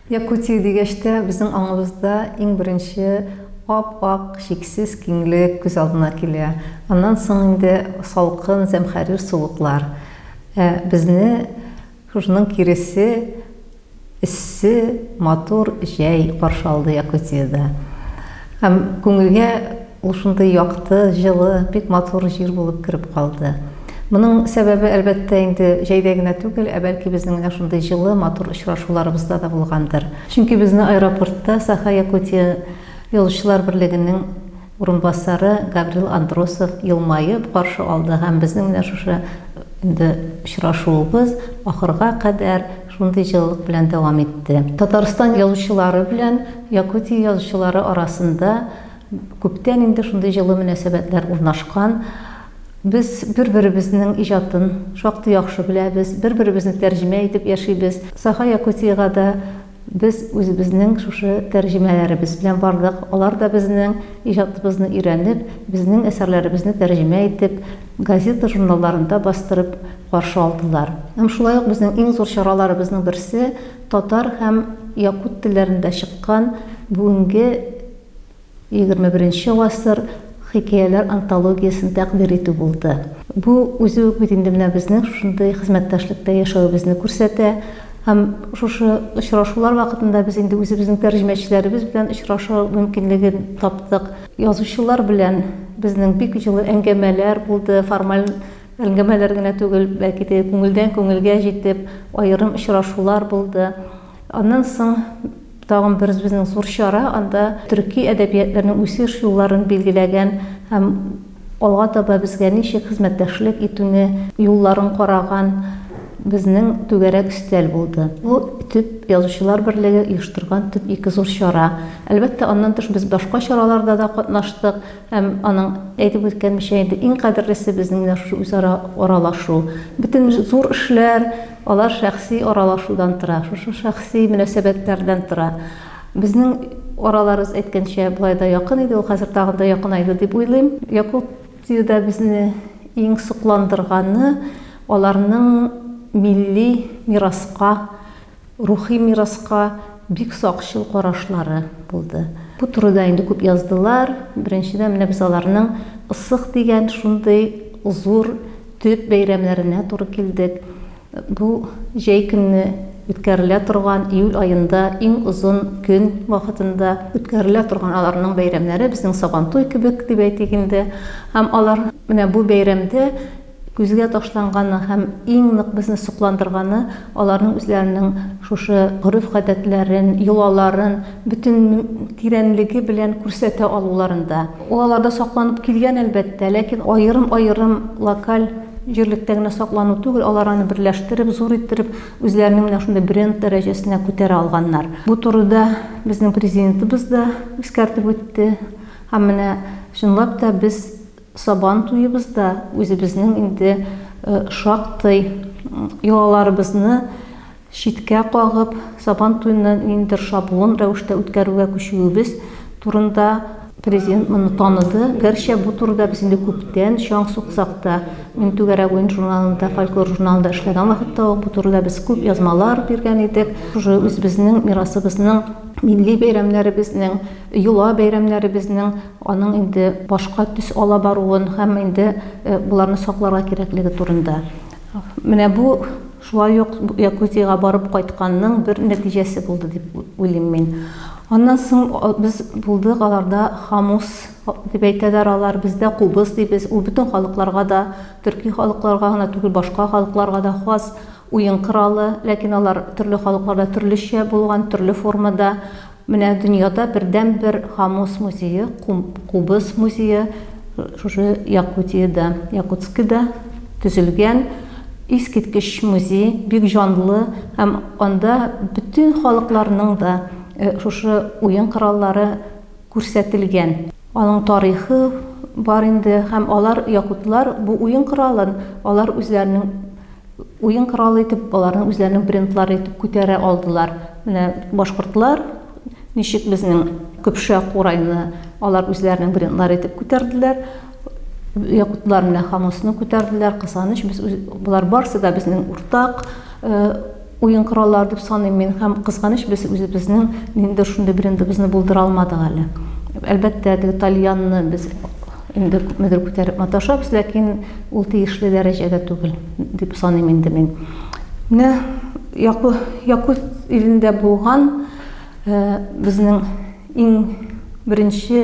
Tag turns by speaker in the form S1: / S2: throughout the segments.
S1: Якутия дигәч тә безнең аңыбызда иң беренче ап-ак шиксез киңлек күз алдына килә. Аннан соң инде салкын зәмхәрир сулыклар. Ә безне шушының киресе Эссе, матур җәй каршы алды Якутиядә. Һәм күңелгә ул шундый якты, җылы, бик матур җир булып кереп калды. Моның сәбәбе, әлбәттә, инде җәйдә генә түгел, ә бәлки безнең менә шундый җылы, матур очрашуларыбызда да булгандыр. Чөнки безне аэропортта Саха-Якутия Язучылар берлегенең Урынбасары Гаврил Андросов елмаеп каршы алды һәм безнең менә шушы инде очрашуыбыз ахырга кадәр шундый җылылык белән дәвам итте. Татарстан язучылары белән Якутия язучылары арасында күптән инде шундый җылы мөнәсәбәтләр урнашкан. Без бер-беребезнең иҗатын шактый яхшы беләбез, бер-беребезне тәрҗемә итеп яшибез. Саха Якутиягә дә Без үзебезнең шушы тәрҗемәләребез белән бардык, алар да безнең иҗатыбызны өйрәнеп, безнең әсәрләребезне тәрҗемә итеп, газета-журналларында бастырып каршы алдылар. Һәм шулай ук безнең иң зур чараларыбызның берсе, татар һәм якут телләрендә чыккан бүгенге Егерме беренче гасыр хикәяләр антологиясен тәкъдир итү булды. Бу үзе үк бит инде менә безнең шушындый хезмәттәшлектә яшәвебезне күрсәтә. Һәм шушы очрашулар вакытында без инде үзебезнең тәрҗемәчеләребез белән очрашу мөмкинлеген таптык. Язучылар белән безнең бик җылы әңгәмәләр булды, формаль әңгәмәләр генә түгел, бәлки теге күңелдән күңелгә җитеп аерым очрашулар булды. Аннан соң тагын бер үзебезнең зур чара, анда төрки әдәбиятләрнең үсеш юлларын билгеләгән һәм алга таба безгә ничек хезмәттәшлек итүне юлларын караган безнең түгәрәк өстәл булды. Бу төп Язучылар берлеге оештырган төп ике зур чара. Әлбәттә, аннан тыш без башка чараларда да катнаштык. Һәм аның әйтеп үткәнемчә, инде иң кадерлесе безнең менә шушы үзара аралашу. Бөтен зур эшләр, алар шәхси аралашудан тора, шушы шәхси мөнәсәбәтләрдән тора. Безнең араларыбыз әйткәнчә болай да якын иде, ул хәзер тагын да якынайды дип уйлыйм. Якутиядә безне иң сокландырганы, аларның милли мираска, Рухи мираска бик сакчыл карашлары булды. Бу турыда инде күп яздылар. Беренчедән, менә без аларның Ыссык дигән шундый зур төп бәйрәмнәренә туры килдек. Бу җәй көнне үткәрелә торган, июль аенда иң озын көн вакытында үткәрелә торган аларның бәйрәмнәре, безнең Сабантуй кебек дип әйтик инде. Һәм алар менә бу бәйрәмдә Күзгә ташланганы һәм иң нык безне сокландырганы, аларның үзләренең шушы гореф-гадәтләрен, йолаларын бөтен тирәнлеге белән күрсәтә алуларында. Ул аларда сакланып килгән, әлбәттә, ләкин аерым-аерым локаль җирлектә генә саклану түгел, алар аны берләштереп, зур иттереп, үзләренең менә шундый бренд дәрәҗәсенә күтәрә алганнар. Бу турыда безнең Президентыбыз да искәртеп үтте. Һәм менә чынлап та без, Сабан туебызда үзебезнең инде шактый йолаларыбызны читкә кагып, Сабан туены ниндидер шаблон рәвештә үткәрүгә күчүебез турында, Президент моны таныды, гәрчә бу турыда без инде күптән, чаң суксак та, мин Түгәрәк уен журналында, фольклор журналында эшләгән вакытта ук бу турыда без күп язмалар биргән идек. Шушы үзебезнең мирасыбызның, милли бәйрәмнәребезнең, йола бәйрәмнәребезнең аның инде башка төс ала баруын һәм инде боларны сакларга кирәклеге турында. Менә бу шулай ук Якутиягә барып кайтканның бер нәтиҗәсе булды дип уйлыйм мин. Аннан соң без булдык, аларда хамус дип әйтәләр алар, бездә кубыз дибез, ул бөтен халыкларга да, төрки халыкларга гына түгел, башка халыкларга да хас уен коралы, ләкин алар төрле халыкларда төрлечә булган, төрле формада Менә дөньяда бердәнбер Хамус музее, Кубыс музее шушы Якутиядә, Якутскида төзелгән искиткеч музей, бик җанлы һәм анда бөтен халыкларның да шушы уен кораллары күрсәтелгән. Аның тарихы бар инде һәм алар, якутлар, бу уен коралын алар үзләренең Уен коралы итеп, аларны үзләренең брендлары итеп күтәрә алдылар. Менә башкортлар ничек безнең көпшә курайны алар үзләренең брендлары итеп күтәрделәр. Якутлар менә хамусны күтәрделәр, кызганыч, без болар барсы да безнең уртак э, уен кораллары дип саныйм мин һәм кызганыч без үзебезнең ниндидер шундый брендыбызны булдыра алмадык әле. Әлбәттә, теге тальянны без Инде күпмедер күтәреп маташабыз, ләкин ул тиешле дәрәҗәдә түгел, дип саныйм инде мин. Менә Яку, Якут илендә булган э, безнең иң беренче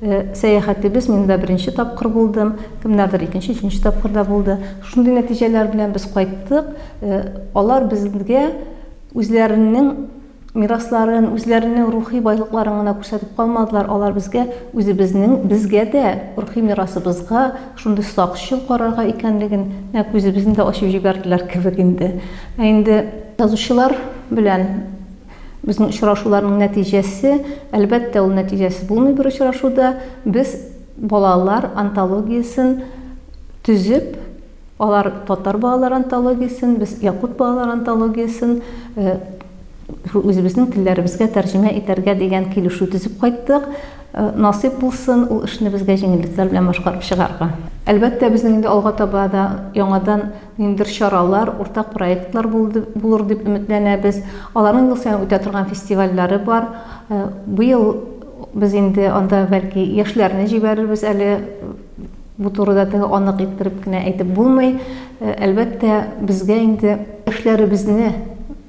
S1: э, сәяхәтебез, мин да беренче тапкыр булдым, кемнәрдер икенче, өченче тапкыр да булды. Шундый нәтиҗәләр белән без кайттык. Э, алар безгә үзләренең мирасларын, үзләренең рухи байлыкларын гына күрсәтеп калмадылар, алар безгә үзебезнең, безгә дә, рухи мирасыбызга шундый сакчыл карарга икәнлеген, нәкъ үзебезне дә ачып җибәрделәр кебек инде. Ә инде язучылар белән безнең очрашуларның нәтиҗәсе, әлбәттә, ул нәтиҗәсез булмый бер очрашуда. Без балалар антологиясен төзеп, Алар татар балалар антологиясен, без якут балалар антологиясен үзебезнең телләребезгә тәрҗемә итәргә дигән килешү төзеп кайттык. Насыйп булсын, ул эшне безгә җиңеллекләр белән башкарып чыгарга. Әлбәттә, безнең инде алга таба да яңадан ниндидер чаралар, уртак проектлар булыр дип өметләнәбез. Аларның ел саен үтә торган фестивальләре бар. Быел без инде анда, бәлки, яшьләрне җибәрербез әле. Бу турыда теге анык иттереп кенә әйтеп булмый. Әлбәттә, безгә инде эшләребезне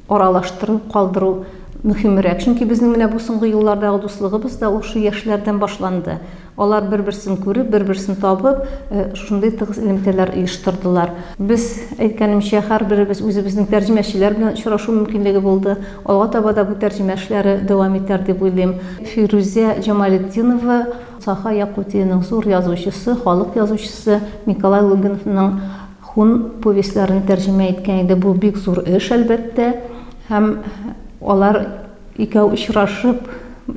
S1: аралаштырып калдыру мөһимрәк. Чөнки безнең менә бу соңгы еллардагы дуслыгыбыз да ул шул яшьләрдән башланды. Алар бер-берсен күреп, бер-берсен табып, шундый тыгыз элемтәләр оештырдылар. Без, әйткәнемчә, һәрберебез үзебезнең тәрҗемәчеләр белән очрашу мөмкинлеге булды. Алга таба да бу тәрҗемә эшләре дәвам итәр дип уйлыйм. Фирүзә Җамалетдинова Саха Якутиянең зур язучысы, халык язучысы Николай Лугиновның Һун повестьларын тәрҗемә иткән иде. Бу бик зур эш, әлбәттә. Һәм алар икәү очрашып,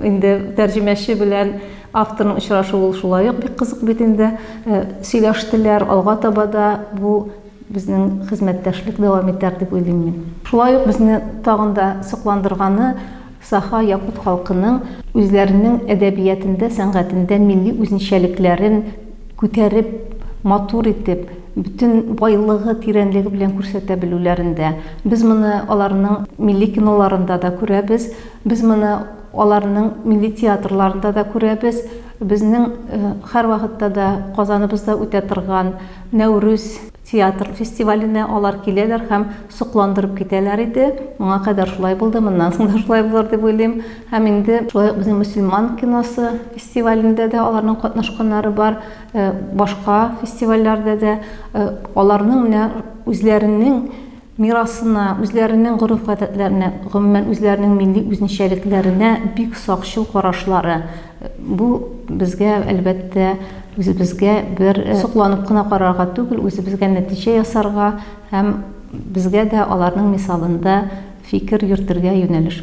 S1: инде тәрҗемәче белән авторның очрашуы ул шулай ук бик кызык бит инде, сөйләштеләр. Алга таба да бу безнең хезмәттәшлек дәвам итәр дип уйлыйм мин. Шулай ук безне тагын да сокландырганы, Саха якут халкының үзләренең әдәбиятында, сәнгатендә милли үзенчәлекләрен күтәреп, матур итеп, бөтен байлыгы, тирәнлеге белән күрсәтә белүләрендә. Без моны аларның милли киноларында да күрәбез, без моны аларның милли театрларында да күрәбез. Безнең һәрвакытта да казаныбызда үтә торган Нәүрүз. Театр фестиваленә алар киләләр һәм сокландырып китәләр иде. Моңа кадәр шулай булды, моннан соң да шулай булыр дип уйлыйм. Һәм инде шулай ук безнең мөселман киносы фестивалендә дә аларның катнашканнары бар, башка фестивальләрдә дә. Аларның менә үзләренең мирасына, үзләренең гореф-гадәтләренә, гомумән, үзләренең милли үзенчәлекләренә бик сакчыл карашлары, бу безгә, әлбәттә, үзебезгә бер сокланып кына карарга түгел, үзебезгә нәтиҗә ясарга һәм безгә дә аларның мисалында фикер йөртергә, юнәлеш.